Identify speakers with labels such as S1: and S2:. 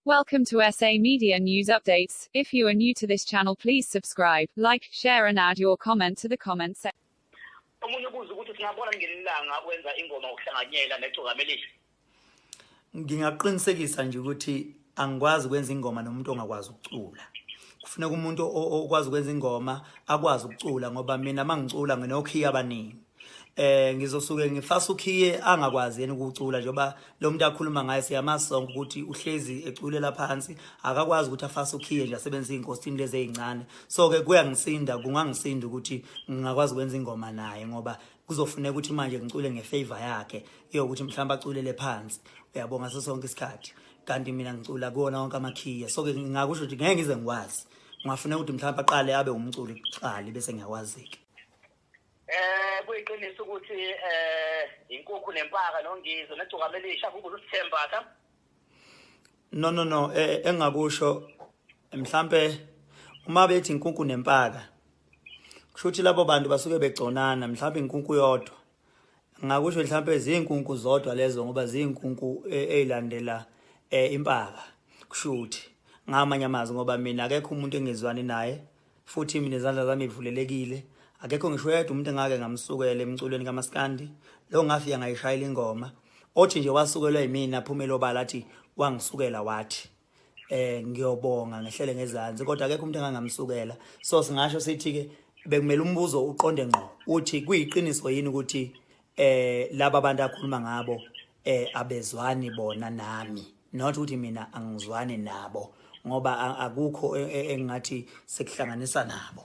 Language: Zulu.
S1: Welcome to SA Media News Updates. If you are new to this channel, please subscribe, like, share and add your comment to the comment section. Omunye ubuza ukuthi singabona ngelilanga wenza ingoma ukuhlanganyela
S2: necokamelisi. Ngingaqinisekisa nje ukuthi angikwazi kwenza ingoma nomuntu ongakwazi ukucula. Kufuneka umuntu okwazi kwenza ingoma akwazi ukucula ngoba mina mangicula nginokhiya abaningi. eh ngizosuke ngifasa ukhiye angakwazi yena ukucula njengoba lo muntu akhuluma ngaye siyamasonga ukuthi uhlezi eculela phansi akakwazi ukuthi afase ukhiye nje asebenzise inkosini lezi ezincane so ke kuyangisinda kungangisinda ukuthi ngingakwazi ukwenza ingoma naye ngoba kuzofuneka ukuthi manje ngicule ngefavor yakhe yokuthi mhlawumbe aculele phansi uyabonga ngaso sonke isikhathi kanti mina ngicula kuwona wonke amakhiye so ke ngingakusho ukuthi ngeke ngize ngikwazi ngiwafuneka ukuthi mhlawumbe aqale abe umculi kuqali bese ngiyawazike Eh
S3: kuyiqiniso ukuthi eh inkukhu nempaka nongizo negcokama elisha kubuza usithembatha.
S2: No no no eh, eh, engakusho mhlambe uma bethi inkukhu nempaka kushuthi labo bantu basuke begconana mhlambe inkukhu yodwa ngakusho mhlambe izinkunku zodwa lezo ngoba izinkunku eh, ezilandela eh, impaka kushuthi ngamanye amazwi ngoba mina akekho umuntu engizwani naye futhi mina izandla zami ivulelekile akekho ngisho yedwa umuntu engake ngamsukela emculweni kamaskandi lo ngafika ngayishayela ingoma othi nje wasukelwa yimina phumela obala athi wangisukela wathi eh ngiyobonga ngehlele ngezansi kodwa akekho umuntu engangamsukela so singasho sithi ke bekumele umbuzo uqonde ngqo uthi kuyiqiniso yini ukuthi eh laba abantu akhuluma ngabo eh abezwani bona nami not ukuthi mina angizwani nabo ngoba akukho e, e, engathi sekuhlanganisa nabo